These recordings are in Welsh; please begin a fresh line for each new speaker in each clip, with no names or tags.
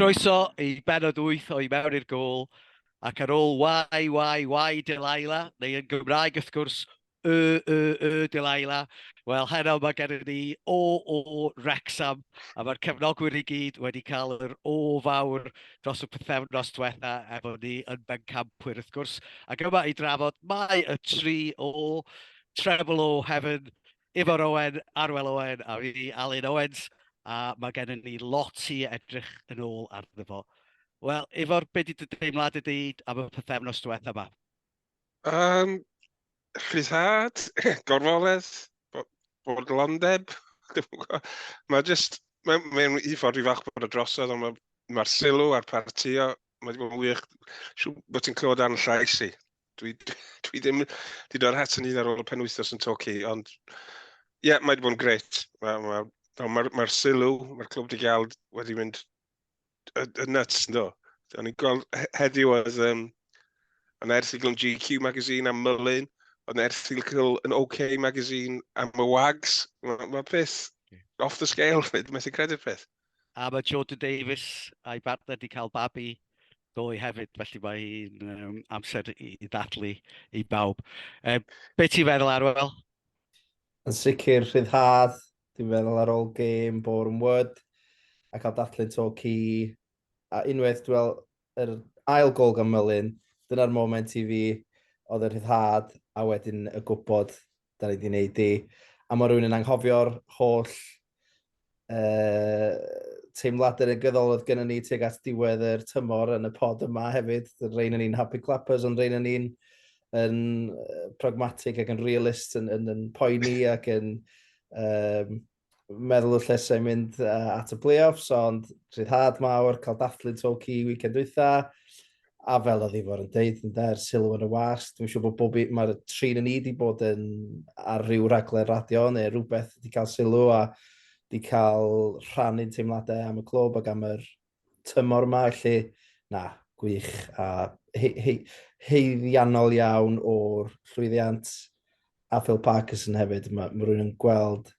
Croeso i benod 8 o I Mewn i'r Gôl, ac ar ôl Wai, Wai, Wai Delilah, neu yn Gymraeg wrth gwrs, Y, Y, Y Delilah, wel heno mae gennym ni O, O Wrecsam, a mae'r cefnogwyr i gyd wedi cael yr O fawr dros y pythefnos diwetha efo ni yn bencampwyr wrth gwrs, ac yma i drafod mae y tri O, Treble O Heaven, Ifor Owen, Arwel Owen a fi, Alun Owens, a mae gennym ni lot i edrych yn ôl arno fo. Wel, Ifor, be di dy deimlad ydy am y pethefnos diwetha yma? Um,
rhyddhad, gorfoledd, bodlondeb, mae jyst, mae'n mae un ffordd i fach bod y drosodd, ond mae'r ma sylw a'r partio, mae wedi bod yn wych, siw bod ti'n clywed ar llais i. dwi, dwi ddim wedi dod at yn hyd ar ôl y penwythnos yn toci, ond ie, yeah, mae wedi bod yn gret. Mae'r ma, ma, ma, ma sylw, mae'r clwb di gael wedi mynd y, y nuts, ynddo. O'n i'n gweld heddiw oedd um, yn erthigol yn GQ magazine am Mullin, oedd yn erthigol yn OK magazine am y Wags. Mae ma peth off the scale, fyd, methu credu'r peth. A mae Jordan
Davies a'i bartner wedi cael babi ddoe hefyd, felly mae hi'n um, amser i, i ddathlu i bawb. Um, be ti'n feddwl, Arwel? Yn
sicr, rhyddhad, dwi'n meddwl ar ôl gêm bor yn wyd, a cael dathlu to ci, a unwaith, dwi'n meddwl, yr ail gol gan Melin, dyna'r moment i fi, oedd y rhyddhad, a wedyn y gwybod 'dan ni 'di neud 'di a ma' rywun yn anghofio'r holl yy teimlade negyddol oedd gynnon ni tuag at diwedd yr tymor yn y pod yma hefyd. Rein yn un happy clappers ond rein yn un yn pragmatic ac yn realist yn yn yn poeni ac yn um, meddwl y llesau mynd uh, at y playoffs, ond rhyddhad mawr, cael dathlu to ci weekend dwytha, a fel oedd Ifor yn deud, yn dair sylw yn y wasg, dwi'n siŵr bod bob mae'r trin yn ni wedi bod yn ar ryw raglen radio neu rhywbeth wedi cael sylw a wedi cael rhannu'n teimladau am y clwb ac am yr tymor yma, felly na, gwych a he, he, heiddiannol iawn o'r llwyddiant a Phil Parkinson hefyd. Mae, mae rhywun yn gweld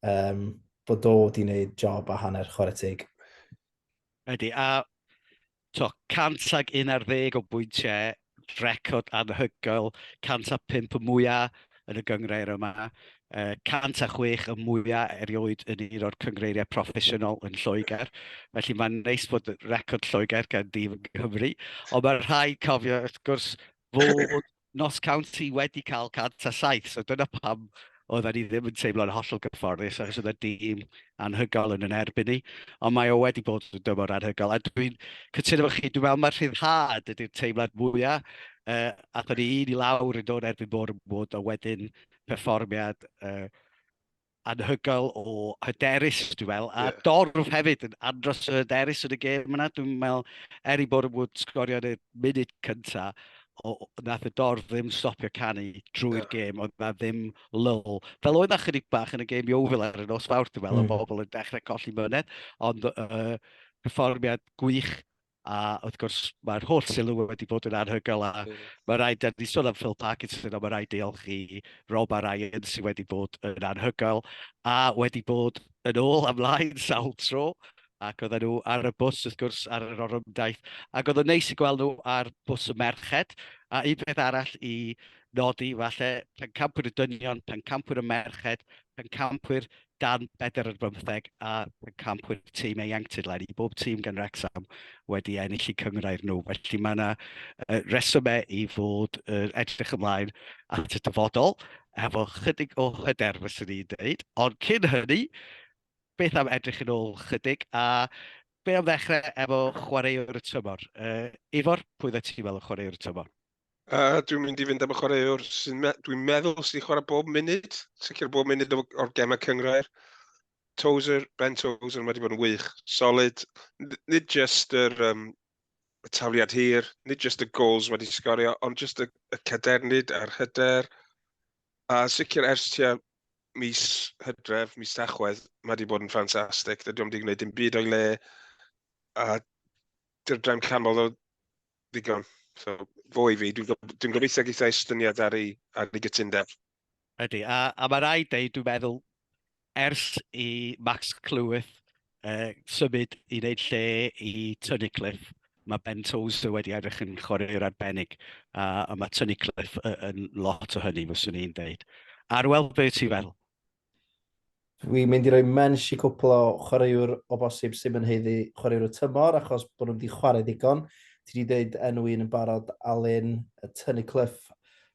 um, bod o wedi gwneud job a hanner chwarae teg.
Ydy, a to, 100 ag 11 o bwyntiau record anhygoel, 105 y mwyaf yn y gyngrair yma, 106 y mwyaf erioed yn un o'r cyngreiriau proffesiynol yn Lloegr. Felly mae'n neis bod record Lloegr gan dîm yn Cymru. Ond mae'n rhaid cofio, wrth gwrs, fod Nos County wedi cael 107, so dyna pam oedden ni ddim yn teimlo'n hollol gyfforddus achos oedd y dîm anhygoel yn yn erbyn ni. Ond mae o wedi bod yn dymor anhygoel. A dwi'n cytuno efo chi, dwi'n meddwl mae'r rhyddhad ydy'r teimlad mwyaf. Uh, a da ni un i lawr yn dod erbyn bod yn bod, a wedyn perfformiad uh, anhygoel o hyderus, dwi'n meddwl. A yeah. dorf hefyd yn andros o hyderus yn y gêm yna. Dwi'n meddwl, er i bod yn bod sgorio yn y munud cyntaf, o, nath y dorf ddim stopio canu drwy'r yeah. gêm, oedd na ddim lull. Fel oedd na chydig bach yn y gêm Iowfil ar y nos fawr, dwi'n meddwl, mm. o bobl yn dechrau colli myned, ond uh, perfformiad gwych, a wrth gwrs mae'r holl sylw wedi bod yn anhygoel, a mm. mae rhaid, da ni sôn am Phil Parkinson, ond mae rhaid deolch i Rob a Ryan sydd wedi bod yn anhygoel, a wedi bod yn ôl amlaen sawl tro, ac oedden nhw ar y bws, wrth gwrs, ar yr orymdaith, ac oedd yn neis i gweld nhw ar bws y merched, a un peth arall i nodi, falle, pencampwyr y dynion, pencampwyr y merched, pencampwyr dan bedr ar bymtheg a pencampwyr tîm ieuenctid lai. I bob tîm gan Rexham wedi ennill i cyngrau'r nhw. Felly mae yna uh, resymau i fod uh, edrych ymlaen at y dyfodol efo chydig o hyder, fyswn i'n dweud. Ond cyn hynny, beth am edrych yn ôl chydig, a be am ddechrau efo chwaraewr y tymor? Uh, Ifor, pwy dda ti'n meddwl chwaraewr y tymor? Uh, dwi'n mynd
i fynd am y chwaraewr sy'n me dwi'n meddwl sy'n chwarae bob munud, sicr bob munud o'r gemau cyngrair. Tozer, Ben Tozer, mae wedi bod yn wych, solid. Nid just yr um, y taliad hir, nid just y goals wedi sgorio, ond just y, y cadernid a'r hyder. A sicr ers tua mis hydref, mis tachwedd, mae wedi bod yn ffantastig. Dydy o'm wedi gwneud dim byd o'i le, a dy'r drefn canmol o ddigon. So, fo i fi, dwi'n dwi gobeithio geitha estyniad ar ei, ar ei gytundeb. Ydy,
a, a mae rhaid dweud, dwi'n meddwl, Ers i Max Cleworth uh, symud i wneud lle i Tynnu Cliff, mae Ben Tozer wedi edrych yn chwarae'r arbennig, a, a mae Tynnu Cliff yn lot o hynny, fyswn i'n dweud. Arwel, be ti'n fel?
Dwi'n mynd i roi mensh i cwpl o chwaraewr o bosib sy'n mynd heiddi chwaraewr y tymor, achos bod nhw wedi chwarae ddigon. Ti wedi dweud enw un yn barod, Alun, Tynnu Cliff,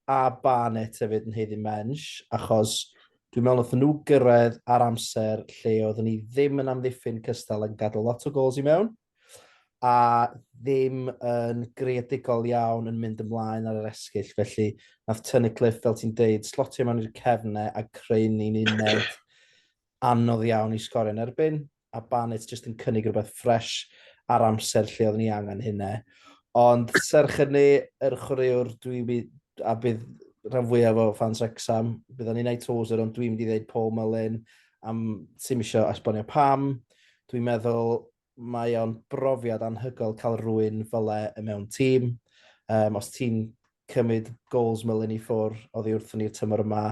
a Barnett hefyd yn heiddi mensh, achos Dwi'n meddwl wnaethon nhw gyrraedd ar amser lle oeddwn ni ddim yn amddiffyn cystal yn gadw lot o gols i mewn, a ddim yn greadigol iawn yn mynd ymlaen ar yr esgyll, felly nath Tunnicliffe, fel ti'n deud, slotio mewn i'r cefne a creu ni'n uned anodd iawn i sgorio yn erbyn. a Barnet jyst yn cynnig rhywbeth ffresh a'r amser lle oedden ni angen hynne. Ond serch hynny, yr chwaraewr dwi wi- a bydd rhan fwyaf o ffans Wrexham, bydd o'n Unai Tozer, ond dwi'n mynd i ddeud Paul Mullin am sy'n eisiau esbonio pam. Dwi'n meddwl mae o'n brofiad anhygoel cael rwy'n fyle y mewn tîm. Um, os ti'n cymryd goals Mullin i ffwr oddi wrthyn ni'r tymor yma,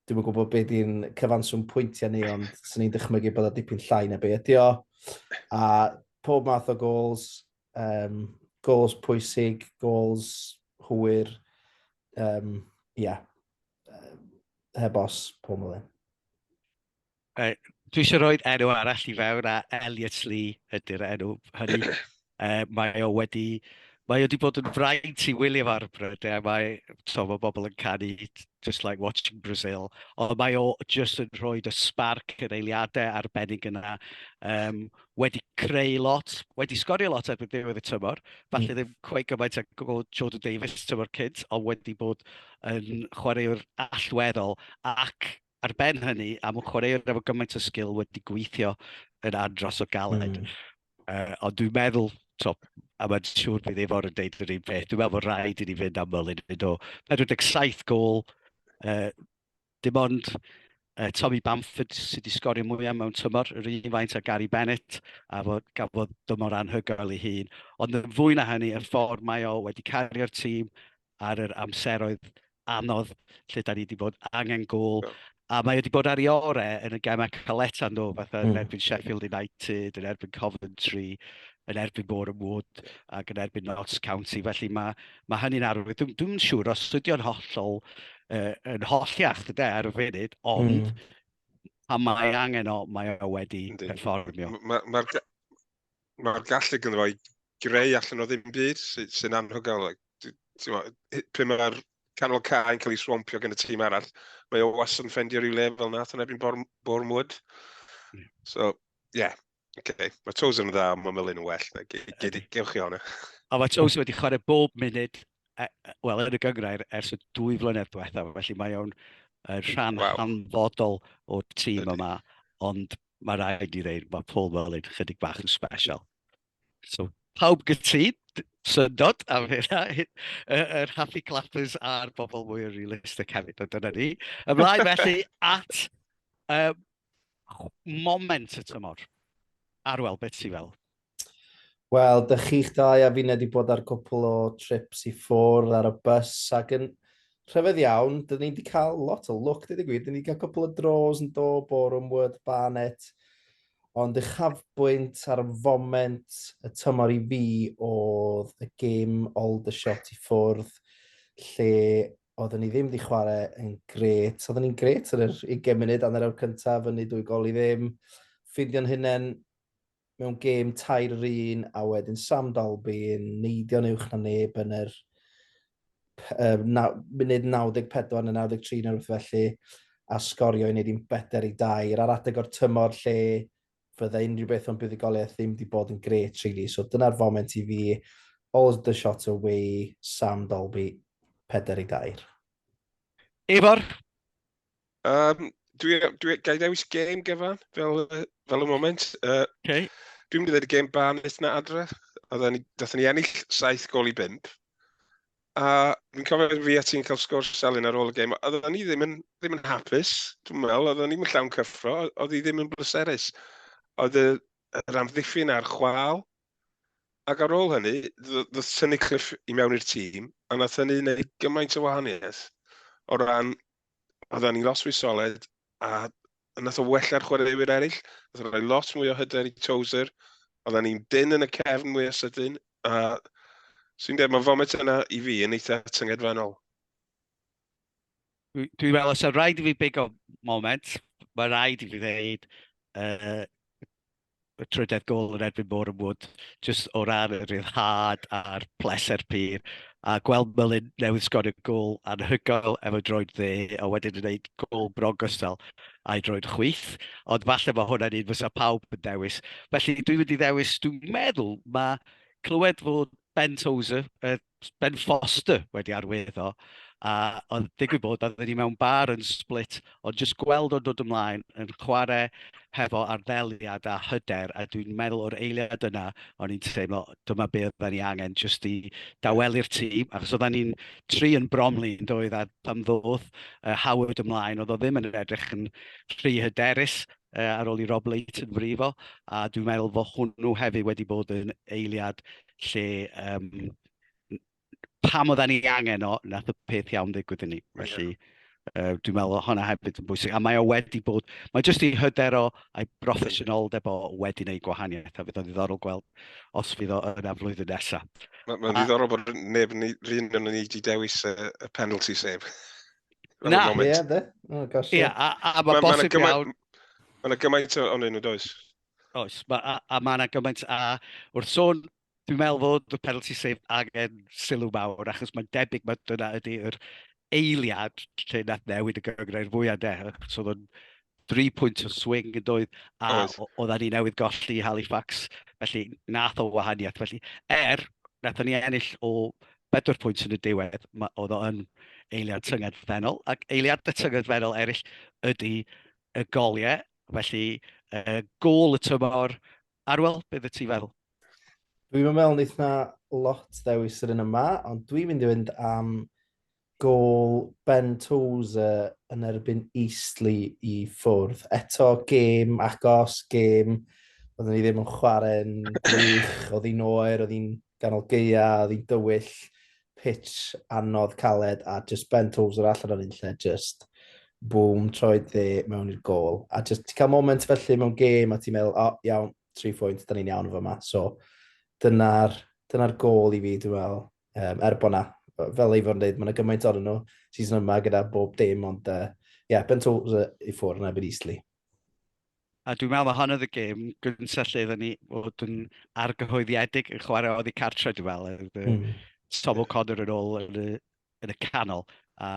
Dwi'n gwybod beth i'n cyfanswm pwyntiau ni, ond sy'n ni'n dychmygu bod o dipyn llai na be ydi o. A pob math o gols, um, gols pwysig, gols hwyr, um, yeah. heb os, pob mlynedd. Uh,
dwi eisiau rhoi enw arall i fewn a Elliot Lee ydy'r enw hynny. uh, mae o wedi... Mae o wedi bod yn fraint i William Arbrow, de, mae, to, mae bobl yn canu just like watching Brazil, ond mae o just yn rhoi y spark yn eiliadau arbennig yna, um, wedi creu lot, wedi sgorio lot erbyn ddiwedd y tymor, falle mm. ddim cweith gymaint ag o Jordan Davies tymor cynt, ond wedi bod yn chwaraewr allweddol ac ar ben hynny, am y chwaraewr efo gymaint o sgil wedi gweithio yn andros o galed. Mm. Uh, ond dwi'n meddwl, to, a mae'n siŵr bydd efo'r yn deud yr un peth, dwi'n meddwl bod rhaid i ni fynd am Merlin yn o 47 gol, uh, dim ond uh, Tommy Bamford sydd wedi sgorio mwyaf mewn tymor, yr un faint a Gary Bennett, a fod, gafodd dymor anhygoel ei hun. Ond yn fwy na hynny, y ffordd mae o wedi cario'r tîm, ar yr amseroedd anodd lle da ni wedi bod angen gol. Yeah. A mae wedi bod ar ei orau yn y gemau caletau nhw, fatha yn mm. erbyn Sheffield United, yn erbyn Coventry, yn erbyn Bore and Wood ac yn erbyn Notts County. Felly mae, mae hynny'n arwydd. Dwi'n dwi siŵr os ydyw'n hollol uh, yn holliach dyda ar y funud, ond mm. pan mae angen o, mae o wedi perfformio. Mae'r ma, ma
mae'r gallu gyda fo'i greu allan o ddim byd sy'n sy anhygoel. Pryd mae'r canol cael yn cael ei swampio gen y tîm arall, mae o was yn ffendio rhyw le fel nath yn ebyn Bormwood. Hmm. So, ie. Yeah. Okay. Mae Toes yn dda, mae Melin yn well. Gewch chi hwnna. A mae Toes wedi
chwarae bob munud, e, e, wel, yn y gyngrair ers y dwy flynedd diwethaf, felly mae o'n rhan wow. hanfodol o'r tîm yma. Ond mae rhaid i ddeud, mae Paul Mullin chydig bach yn special. So, pawb gytid, syndod am hynna, yr Happy Clappers a'r bobl mwy o realistic hefyd, ond dyna ni. Ymlaen felly at um, moment y tymor. Arwel, beth ti fel? Wel,
dych chi'ch dau a finnau wedi bod ar gwpl o trips i ffwrdd ar y bus ac yn rhyfedd iawn, dyn ni wedi cael lot o lwc, dweud y gwir, dyn ni wedi cael cwpl o dros yn do, Boreham Wood, Barnet, ond uchafbwynt ar y foment y tymor i fi oedd y gêm Aldershot i ffwrdd lle oedden ni ddim wedi chwarae yn gret. Oedden ni'n gret yn yr 20 munud, anner awr cyntaf, fyny dwy gol i ddim, ffeindio'n hunain mewn gêm tair yr un, a wedyn Sam Dalby yn neidio'n uwch na neb yn yr uh, na, munud 94 neu 93 neu rhywbeth felly, a sgorio i wneud i'n beter i dair ar adeg o'r tymor lle fydde unrhyw beth o'n buddigoliaeth ddim wedi bod yn gret, really. So dyna'r foment i fi, all the shot away, Sam Dalby, peder i dair.
Efor? Um,
dwi, dwi, gai ddewis game gyfan, fel, fel y moment. Uh, okay. Dwi'n mynd i ddweud y game ban eith na adre. Oedden ni, dathyn ni ennill 7 gol i 5. A fi'n cofio fi a ti'n cael sgwrs Selin ar ôl y game. Oedden ni ddim yn, ddim yn hapus, dwi'n meddwl. Oedden ni'n llawn cyffro, oedd hi ddim yn bleserus. Oedd yr amddiffyn a'r chwal, Ac ar ôl hynny, ddoth Tynnu Cliff i mewn i'r tîm, a nath hynny wneud gymaint o wahaniaeth o ran, oedden ni lot fwy solid, a nath o wella'r chwaraewyr eraill, nath o roi lot mwy o hyder i Tozer, oedden ni'n dyn yn y cefn mwy o sydyn, a sy'n dweud, mae fomet yna i fi yn eitha tyngedfennol.
Dwi'n meddwl, os yw'n rhaid i fi big o moment, mae rhaid i fi ddeud, uh, y trydedd gol yn erbyn Boreham Wood, jyst o ran y rhyddhad a'r pleser pur, a gweld Mullin newydd sgorio gol anhygoel efo droed dde, a wedyn yn gwneud gol bron gystal a'i droed chwith, ond falle mae hwnna'n un fysa pawb yn dewis. Felly dwi'n mynd i ddewis, dwi'n meddwl, mae clywed fod Ben Tozer, y Ben Foster wedi arwyddo, a oedd digwydd bod, oedden ni mewn bar yn Split, ond jyst gweld o'n dod ymlaen, yn chwarae hefo arddeliad a hyder, a dwi'n meddwl o'r eiliad yna, o'n i'n teimlo dyma be oedden ni angen jyst i dawelu'r tîm, achos oedden ni'n tri yn Bromley yn doedd, a pan ddodd uh, Howard ymlaen, oedd o ddim yn edrych yn rhy hyderus, uh, ar ôl i Rob Leighton frifo, a dwi'n meddwl fod hwnnw hefyd wedi bod yn eiliad lle yym pam oedden ni angen o, nath y peth iawn ddigwydd i ni. Felly, uh, dwi'n meddwl o hwnna hefyd yn bwysig. A mae o wedi bod, mae jyst i hyder o a'i broffesiynoldeb o wedi wneud gwahaniaeth. A fydd o'n ddiddorol gweld os fydd o yna flwyddyn nesaf. Mae'n ma ddiddorol bod
neb yn rhywun yn ni wedi dewis y, y penalty sef. Na,
ie, de. Oh,
gosh, yeah. yeah.
a, a mae bosib iawn... Mae yna gymaint
o'n un o does. Oes, ma,
a, a mae yna gymaint a wrth sôn, dwi'n meddwl fod y penalty sef angen sylw mawr, achos mae'n debyg mae dyna ydy'r eiliad lle nath newid y gyngrau'r fwyaf de. So oedd o'n 3 pwynt o swing yn doedd, a oedden ni newydd golli Halifax, felly nath o wahaniaeth. Felly, er, nath ni ennill o 4 pwynt yn y diwedd, oedd o'n eiliad tyngedfennol, ac eiliad y tyngedfennol eraill ydy y goliau Felly, uh, gol y tymor. Arwel, beth y ti fel? Dwi'n mynd
mewn neith na lot ddewis yr un yma, ond dwi'n mynd i fynd am gol Ben Tozer yn erbyn Eastleigh i ffwrdd. Eto, gêm agos, gêm oedden ni ddim yn chwarae'n gwych, oedd hi'n oer, oedd hi'n ganol gaeaf, un dywyll, pitch anodd, caled, a just bent hwfs yr allan o'r un lle, just boom, troed dde mewn i'r gol. A just ti cael moment felly mewn gêm a ti'n meddwl, o, oh, iawn, tri phwynt, da ni'n iawn efo yma. So, dyna'r dyna gol i fi, dwi'n meddwl, um, er bod na, fel ei fod yn dweud, mae yna gymaint o'n nhw season yma gyda bob dim, ond uh, yeah, bent hwfs i ffwrdd yn ebyn Eastleigh. A
dwi'n meddwl mae hon oedd y gêm gyntaf lle oedden ni fod yn argyhoeddiedig yn chwarae oedd i cartre, dwi'n meddwl. Mm. Tom O'Connor yn ôl yn y, yn y canol, a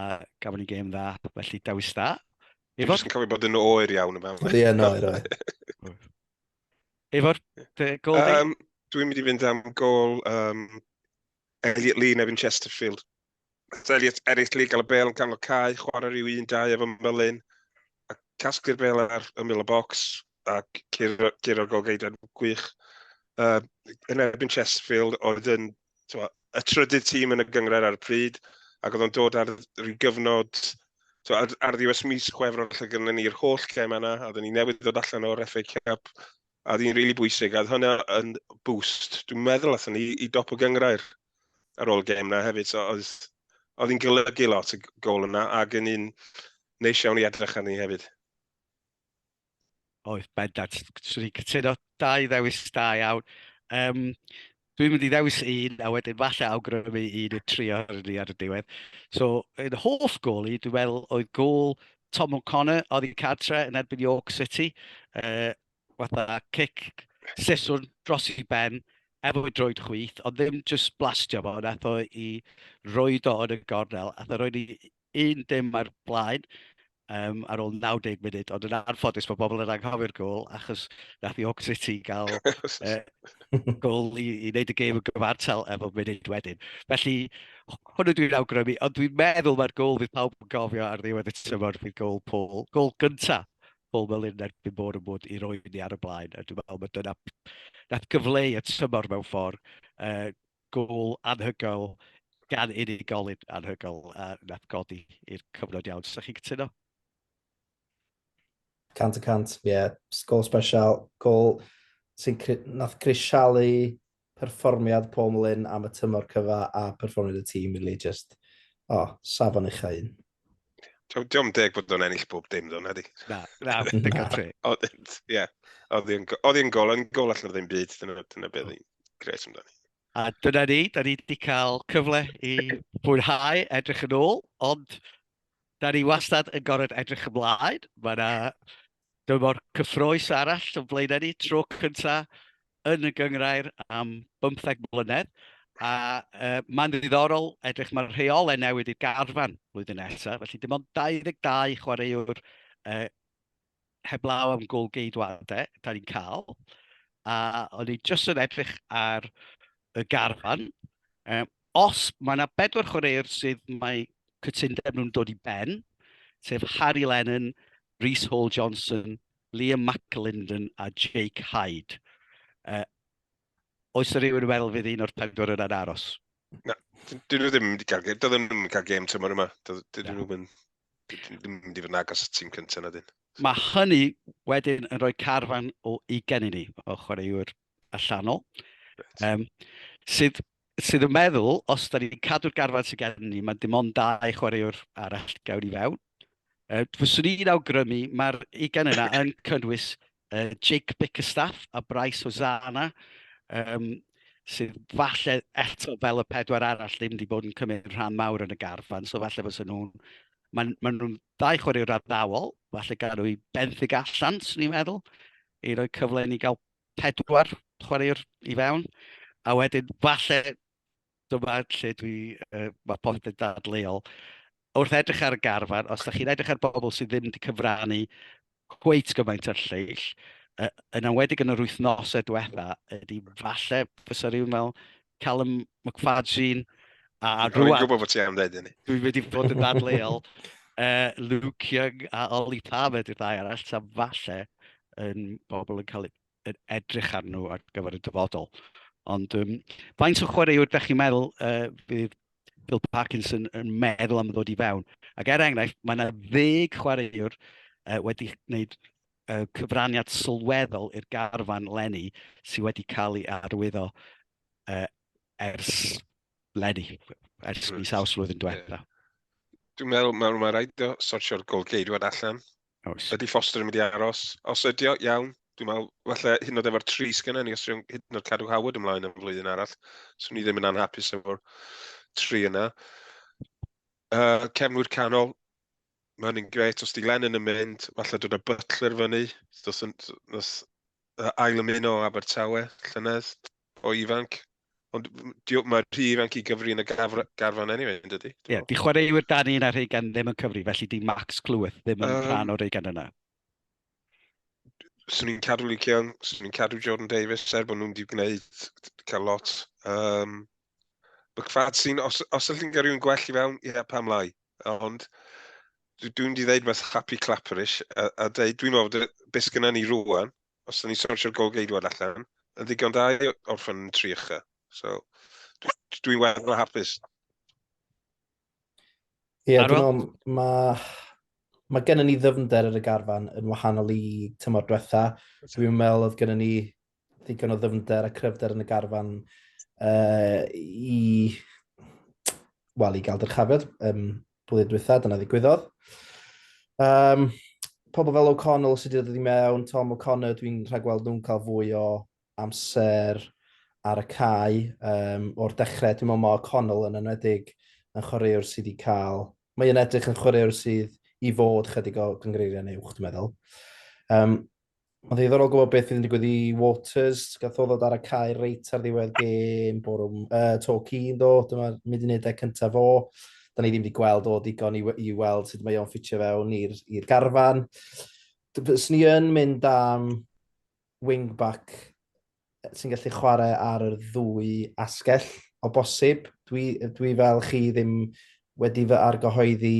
gafon ni gêm dda, felly dewis dda. Dwi'n just yn cofio
bod yn oer iawn yma. Ie, yn oer, oer.
Efo'r gol um, Dwi'n mynd i fynd am
gol um, Elliot Lee nefyn Chesterfield. Elliot eraill i gael y bel gan o cae, chwarae rhyw un dau efo Melin, a casglu'r bel ar ymwyl y bocs, a gyrra'r golgeidau'n gwych. Uh, yn erbyn Chesterfield oedd yn twa, y trydydd tîm yn y gyngred ar y pryd, ac oedd o'n dod ar rhyw gyfnod twa, ar, ar ddiwes mis chwefror lle gyda ni'r holl gem yna, a oedden ni newydd ddod allan o'r FA Cup, a ddyn rili really bwysig, a oedd hwnna yn boost. Dwi'n meddwl allan ni i dop y gyngrair. ar ôl gêm na hefyd, so oedd, oedd hi'n golygu lot y gol yna, ac yn un neis iawn i edrych arni hefyd.
Oedd, bendant. Swn i'n cytuno dau ddewis da iawn. Um, Dwi'n mynd i ddewis un, a wedyn falle awgrymu un y tri o'r ni ar y diwedd. So, yn hoff gol i, dwi'n meddwl, oedd gol Tom O'Connor, oedd i cadre yn erbyn York City. Uh, fatha cic siswrn dros i ben efo i droed chwith, ond ddim just blastio fo, nath o i roed o yn y gornel, a roed i un dim ar blaen um, ar ôl 90 munud, ond yn anffodus bod bobl yn anghofio'r gol, achos nath i Hawk City gael uh, gol i, i wneud y gêm yn gyfartal efo munud wedyn. Felly, hwnnw dwi'n awgrymu, ond dwi'n meddwl mae'r gol fydd pawb yn gofio ar ddiwedd y tymor fydd gol Paul, gol gynta bobl yn erbyn bod yn bod i roi ni ar y blaen. A dwi'n meddwl bod dyna nath gyfleu y tymor mewn ffordd, uh, gol anhygoel gan unigolyn anhygoel a nath godi i'r cyfnod iawn. Sa'ch chi'n cytuno?
Cant y cant, ie. Yeah. Gol special, gol sy'n nath grisialu perfformiad Paul Lyn am y tymor cyfa a perfformiad y tîm rili jyst o safon ucha un. T'o'
dio'm deg bod o'n ennill bob dim ddo nadi? Na na digon
teg. O'dd ie
o'dd 'i'n o'dd 'i'n gol yn gol allan o ddim byd dyna dyna be' o'dd 'i'n grêt amdani. A dyna ni,
da ni wedi cael cyfle i fwynhau edrych yn ôl ond da ni wastad yn gorfod edrych ymlaen, mae 'na Dyma'r cyffrous arall o flaenau ni, tro cynta yn y gynghrair am bymtheg mlynedd, a mae'n ddiddorol edrych, mae'r rheolau newid i'r garfan flwyddyn nesaf, felly dim ond 22 chwaraewr heblaw am gôl geidwadau da ni'n cael, a o'n i jyst yn edrych ar y garfan, Os mae yna bedwar chwaraewr sydd mae cytundeb nhw'n dod i ben, sef Harry Lennon, Reece Hall Johnson, Liam McAlinden a Jake Hyde. Uh, oes yna rhywun yn meddwl fydd un o'r pedwar yna'n aros? Na,
dyn nhw ddim wedi cael gêm. Doedd nhw'n mynd cael gêm tymor yma. Dyn nhw'n mynd... Dyn nhw'n mynd i fod yn agos y tîm cyntaf na dyn. Mae hynny
wedyn yn rhoi carfan o ugen i ni, o chwaraewr allanol, um, sydd, sydd yn meddwl, os da ni'n cadw'r garfan sydd gen ni, mae dim ond dau chwaraewr arall gawn i fewn. Uh, fyswn i'n awgrymu, mae'r ugen yna yn cynnwys uh, Jake Bickerstaff a Bryce Hosanna, um, sydd falle eto fel y pedwar arall ddim wedi bod yn cymryd rhan mawr yn y garfan, so falle fos nhw'n... Maen ma nhw'n ddau chwaraewr addawol, falle gael nhw i benthyg allan, swn i'n meddwl, i roi cyfle i ni gael pedwar chwaraewr i fewn, a wedyn falle dyma lle dwi, uh, mae popeth yn dadleuol. Wrth edrych ar y garfan, os da chi'n edrych ar bobl sydd ddim wedi cyfrannu cweit gymaint o'r lleill, uh, yn awedig yn yr wythnosau diwetha, ydy falle fysa rhywun fel Callum McFadzean, a rwan... Dwi'n gwybod bod ti am dweud hynny.
Dwi wedi bod yn
dadleol. uh, Luke Young a Oli Palmer, dwi'n ddau arall, ta falle yn bobl yn cael yn edrych ar nhw ar gyfer y dyfodol. Ond um, faint o chwaraewr ydych chi'n meddwl uh, fydd Bill Parkinson yn meddwl am ddod i fewn? Ac er enghraifft, mae yna ddeg chwaraewr uh, wedi gwneud y cyfraniad sylweddol i'r garfan lenni sydd wedi cael ei arwyddo uh, ers lenni, ers mis awst flwyddyn diwetha. Dwi'n meddwl
mae ma rhaid o sortio'r golgeidwad allan. Oes. Ydy Foster yn mynd i aros? Os ydy o, iawn. Dwi'n meddwl, falle hyn yn oed efo'r tri sgynna ni, os dwi'n hyn yn oed cadw Howard ymlaen yn flwyddyn arall, so ni ddim yn anhapus efo'r tri yna. Uh, cefnwyr canol, mae hynny'n gret. Os di Lennon yn mynd, falle dod â Butler fyny. Os yn ail ymuno o Abertawe, llynedd, o ifanc. Ond mae'r rhy ifanc i gyfri yn y garfan anyway, yn dydy? Ie, yeah, di chwaraewyr
dan un ar Reigan ddim yn cyfri, felly di Max Clyweth ddim yn um, rhan o'r Reigan yna.
Swn i'n cadw Luke Young, swn i'n cadw Jordan Davis, er bod nhw'n di gwneud cael lot. Um, Bygfad sy'n, os, os ydych chi'n cael rhywun gwell i fewn, ie, yeah, pam lai. Ond dwi'n di ddeud mas happy clapperish a, a dweud, dwi'n meddwl bod beth gyda ni rwan, os ydych ni'n sortio'r gol geidwad allan, yn ddigon da i orffen yn tri ycha. So, dwi'n dwi weddol hapus.
Ie, yeah, dwi'n meddwl, mae mae gennym ni ddyfnder ar y garfan yn wahanol i tymor diwetha. Dwi'n meddwl oedd gennym ni ddigon o ddyfnder a cryfder yn y garfan uh, i, wel, i gael dyrchafiad um, blwyddyn diwetha, dyna ddigwyddodd. Um, pobl fel O'Connell sydd wedi dod i mewn, Tom O'Connor, dwi'n rhagweld nhw'n cael fwy o amser ar y cae um, o'r dechrau. Dwi'n meddwl mae O'Connell yn enwedig yn chwaraewr sydd wedi cael... Mae yn edrych yn chwaraewr sydd i fod chydig o gyngreiriau neuwch, dwi'n meddwl. Um, Mae'n ddiddorol gwybod beth fydd yn digwydd i Waters. Gath o ddod ar y cae reit ar ddiwedd gêm bwrw uh, to cyn do. Dyma'r mudineddau cyntaf fo. Da ni ddim wedi gweld o digon i, i weld sut mae o'n ffitio fewn i'r garfan. Sni yn mynd am wingback sy'n gallu chwarae ar yr ddwy asgell o bosib. Dwi, dwi fel chi ddim wedi fy argyhoeddi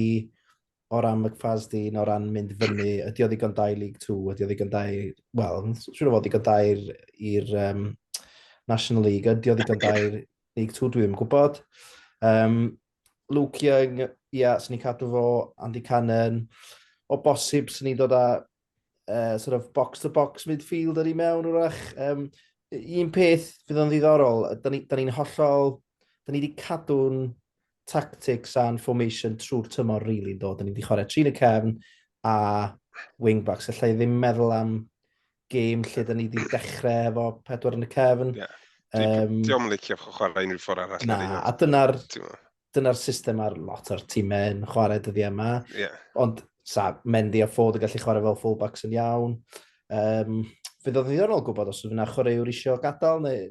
o ran McFasdeen, o ran mynd fyny, ydy o ddigon dau League 2, ydy o ddigon dau... Wel, siwr o fod ddigon dau i'r um, National League, ydy o ddigon dau League 2, dwi ddim yn gwybod. Um, Luke Young, ia, yeah, sy'n ni cadw fo, Andy Cannon, o bosib sy'n ni dod â uh, sort of box-to-box -box midfielder i mewn wrach. Um, un peth fydd o'n ddiddorol, da ni'n ni, ni hollol, da ni wedi cadw'n tactics a'n formation trwy'r tymor rili really, do. Da ni wedi chwarae trin y cefn a wingbacks. Alla i ddim meddwl am gêm lle da ni wedi dechrau efo pedwar yn y cefn. Yeah.
Um, Diolch yn licio chwarae unrhyw ffordd arall. Na, a dyna'r
dyna'r system ar lot o'r tîmau yn chwarae dyddiau yma. Yeah. Ond sa Mendy a Ford yn gallu chwarae fel fullbacks yn iawn. Um, fydd o ddiddorol gwybod os yna chwaraewr eisiau gadael neu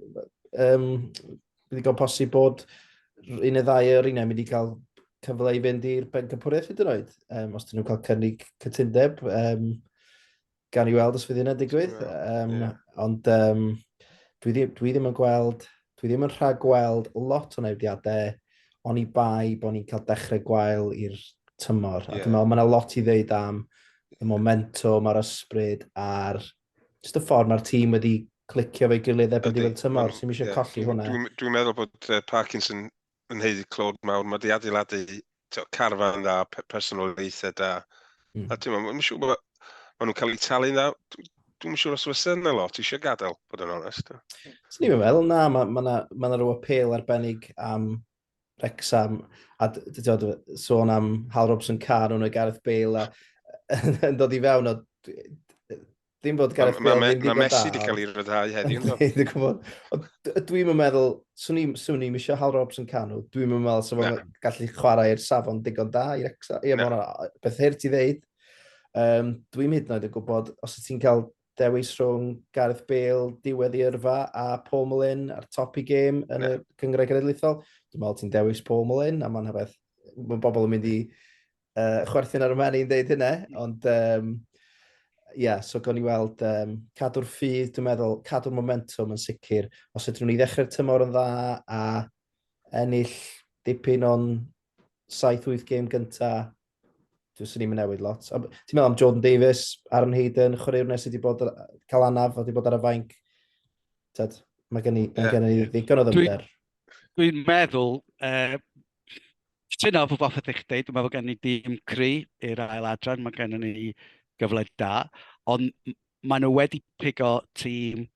um, bydd i'n posib bod un neu ddau o'r unau mynd i cael cyfle i fynd i'r bencampwriaeth hyd yn oed, um, os dyn nhw'n cael cynnig cytundeb. Um, Gan i weld os fydd hynna'n digwydd. Um, yeah. Ond um, dwi, ddim, dwi ddim yn gweld, dwi ddim yn rhag gweld lot o newidiadau, ond i bai bod ni'n cael dechrau gwael i'r tymor. Yeah. A dwi'n meddwl, mae yna lot i ddeud am y momentum a'r ysbryd a'r just y ffordd mae'r tîm wedi clicio fe gilydd erbyn diwedd tymor, sy'n eisiau yeah. colli hwnna. Dwi'n dwi meddwl bod
uh, Parkinson yn heiddi clod mawr, mae di adeiladu carfan dda, personolaethau da. Mm. A ti'n meddwl, siŵr bod maen nhw'n cael eu talu'n dda. Dwi'n siŵr os fysa yna lot eisiau gadael, bod yn onest. Swn i'n meddwl,
na, mae yna ma, ma, ma rhyw apel arbennig am Rexham, a dod, sôn am Hal Robson Carr, nhw'n y Gareth Bale, a yn dod i fewn, o, Dim bod Gareth Bale ddim digon da. Mae Messi wedi cael ei
ryddhau heddiw. Ynddo. Dwi'n gwybod. Dwi'n
yn meddwl, swn i'n swn i'n misio Hal Robson canw, dwi'n yn meddwl sef o'n gallu chwarae i'r safon digon da i'r exa. Ie, mae'n beth hir ti ddeud. Um, dwi'n hyd yn oed yn gwybod, os ti'n cael dewis rhwng Gareth Bale, diwedd i yrfa, a Paul Mullin a'r top i gêm yn y cyngred genedlaethol, dwi'n meddwl ti'n dewis Paul Mullin, a mae'n hafeth, mae bobl yn mynd i Uh, chwerthin ar y menu yn dweud hynna, ond um, yeah, so gawn ni weld um, cadw'r ffydd, dwi'n meddwl, cadw'r momentum yn sicr. Os ydyn ni ddechrau'r tymor yn dda a ennill dipyn o'n 7-8 gêm gyntaf, dwi'n sy'n ni'n newid lot. Ti'n meddwl am Jordan Davis, Aaron Hayden, chwaraewr nes wedi bod cael anaf, wedi bod ar y fainc. Tad, mae gen i, yeah. gen i ddigon o ddymder. Dwi'n dwi
meddwl, uh, Cytuno efo popeth ydych chi'n dweud. Dwi'n meddwl bod gen i dîm cry i'r ail adran. Mae gen ni gyfle da. Ond maen nhw wedi pigo tîm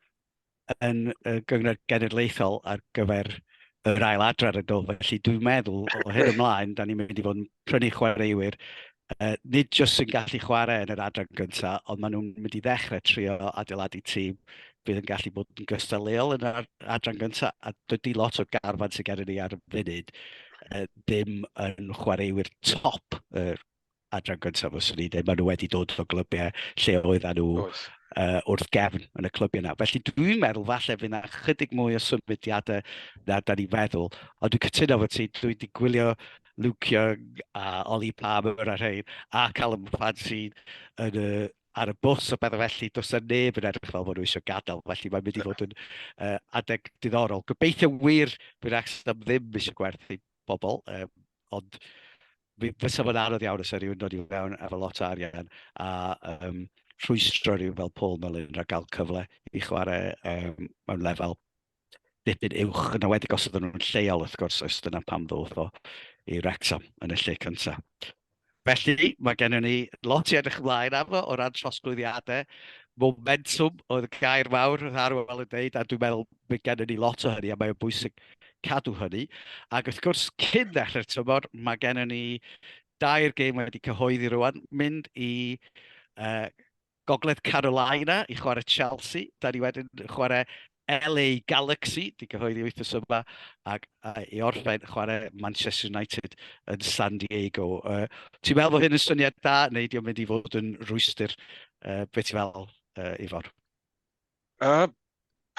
yn y gyngor genedlaethol ar gyfer yr ail adran yn do. Felly dwi'n meddwl o hyn ymlaen, da ni'n mynd i fod yn prynu chwaraewyr yy, nid jyst sy'n gallu chwarae yn yr adran gyntaf, ond maen nhw'n mynd i ddechrau trio adeiladu tîm bydd yn gallu bod yn gystadleuol yn yr adran gyntaf, a dydy lot o'r garfan sy'n gyda ni ar y funud uh, ddim yn chwaraewyr top yr uh, adran gyntaf os ni ddim, maen nhw wedi dod o glybiau lle oedd nhw uh, wrth gefn yn y clybiau yna. Felly dwi'n meddwl falle fydd yna chydig mwy o symudiadau na da ni feddwl, ond dwi'n cytuno fod ti, dwi'n di gwylio Luke Young a Ollie Palmer a rhain, a Callum Clancy yn y, ar y bws o bethau felly, does yna neb yn edrych fel bod nhw eisiau gadael, felly mae'n mynd i fod yn uh, adeg diddorol. Gobeithio wir bydd Wrexham ddim eisiau gwerthu bobl, um, ond fysa fo'n anodd iawn os rhywun dod i fewn efo lot o arian a um, rhwystro rhyw fel Paul Mullin rhag gael cyfle i chwarae um, mewn lefel dipyn uwch, yn awedig os ydyn nhw'n lleol wrth gwrs, oes dyna pam ddodd o i Wrexham yn y lle cyntaf. Felly, mae gennym ni lot i edrych ymlaen arno o ran trosglwyddiadau. Momentum oedd y gair mawr oedd Arwel yn dweud, a dwi'n meddwl mae gennym ni lot o hynny, a mae'n bwysig cadw hynny. Ac wrth gwrs, cyn ddechrau'r tymor, mae gennym ni dair gêm wedi cyhoeddi rwan, mynd i uh, Gogledd Carolina i chwarae Chelsea. Da ni wedyn chwarae LA Galaxy, di gyhoeddi wythnos yma, ac i orffen chwarae Manchester United yn San Diego. Uh, ti'n meddwl bod hyn yn syniad da, neu di'n mynd i fod yn rhwystyr? Uh, be ti'n meddwl, uh, Ifor? A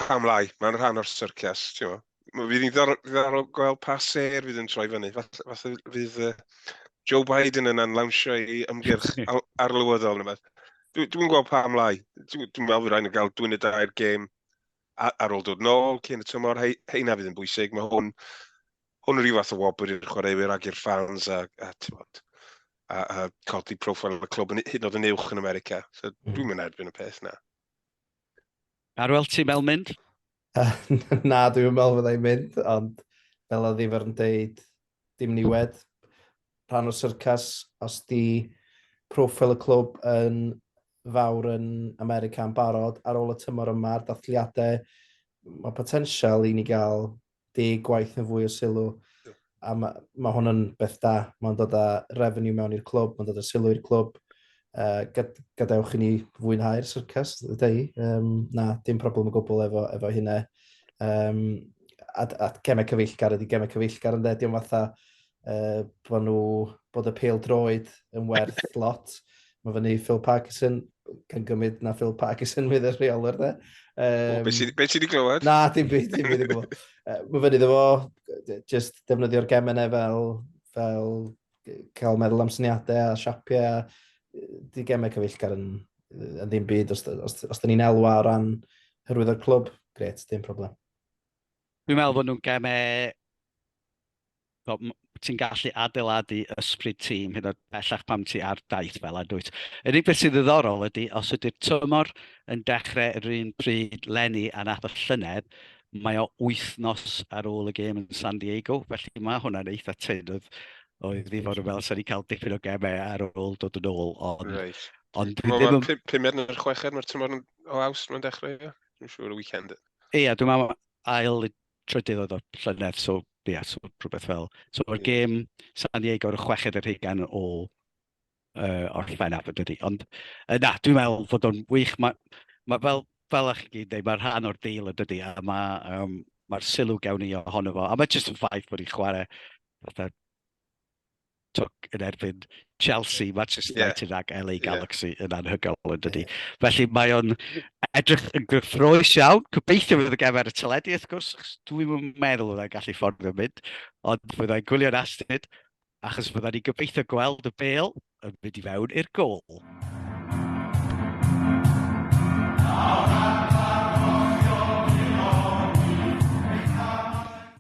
pam lai, mae'n rhan o'r syrcias, ti'n mo. Fydd ni'n ddiddorol gweld pa ser fydd yn troi fyny. Falle fydd Joe Biden yn anlawnsio ei ymgyrch arlywyddol neu beth. Dwi'n dwi gweld pa ymlaen. Dwi'n dwi meddwl fy rhaid yn cael dwi'n y dair gêm ar ôl dod nôl cyn y tymor. He, heina fydd yn bwysig. Mae hwn, hwn rhyw fath o wobr i'r chwaraewyr ag i'r ffans a, a, bod, a, a codi profil y clwb yn hyd yn oed yn uwch yn America. So, mm. dwi'n mynd erbyn y peth na.
Arwel, ti'n meddwl mynd?
Na, dwi'n meddwl fydda i'n mynd, ond fel oedd Ifar yn deud, dim niwed, rhan o syrcas, os di profil y clwb yn fawr yn America yn barod ar ôl y tymor yma, dathliadau, mae potensial i ni gael deg gwaith neu fwy o sylw, a mae, mae hwn yn beth da. Mae'n dod â revenue mewn i'r clwb, mae'n dod â sylw i'r clwb. Uh, gad, gadewch i ni fwynhau'r syrcas, dda i. Um, na, dim problem o gwbl efo, efo hynna. Um, a, a gemau cyfeillgar ydy gemau cyfeillgar yn dde, diolch fatha uh, bod nhw, bod y pel droed yn werth lot. Mae fyny Phil Parkinson, gan gymryd na Phil Parkinson fydd y rheolwr dde. Um, be sydd
wedi glywed? Na, dim byd, dim byd i
glywed. Uh, mae fyny ddefo, just defnyddio'r gemennau fel, fel cael meddwl am syniadau a siapiau a di gemau cyfeillgar yn, yn ddim byd os, os, os, os ni'n elwa o ran hyrwydd o'r clwb, gret, dim problem. Dwi'n
meddwl bod nhw'n gemau Wel, m- ti'n gallu adeiladu ysbryd tîm hyd yn oed bellach pam ti ar daith fel hyn, dwyt. Yr unig beth sydd ddiddorol ydy, os ydy'r tymor yn dechrau yr un pryd lenni a nath y llynedd, mae o wythnos ar ôl y gêm yn San Diego, felly mae hwnna'n eitha tynn. Oedd, oedd fi fod yn fel, sa'n ni'n cael dipyn o gemau ar ôl dod yn ôl, ond... Right. Ond dwi ddim yn... Pumed
neu'r chweched, mae'r tymor o awst mae'n dechrau, ie? Dwi'n siŵr y weekend. Ie, dwi'n meddwl
ail trydydd oedd o'r llynedd, so ie, yeah, so rhywbeth fel... So mae'r gêm San Diego ar y chweched yr hugain o uh, orffen afod dydy. Ond uh, na, dwi'n meddwl fod o'n wych. Mae ma fel, fel ych chi dweud, mae rhan o'r deal y dydy, a mae um, mae'r sylw gawn ni ohono fo. A mae jyst yn ffaith bod ni'n chwarae fatha twc yn erbyn Chelsea, Manchester United yeah. ac LA Galaxy yeah. yn anhygoel yn dydy. Yeah. Felly mae o'n edrych yn gyffroes iawn. Gobeithio fydd y gefer y teledu, wrth gwrs, dwi'n meddwl fyddai'n gallu ffordd yn mynd, ond fyddai'n gwylio'n astyd, achos fyddai'n ni gobeithio gweld y bel yn mynd i fewn i'r gol. Oh,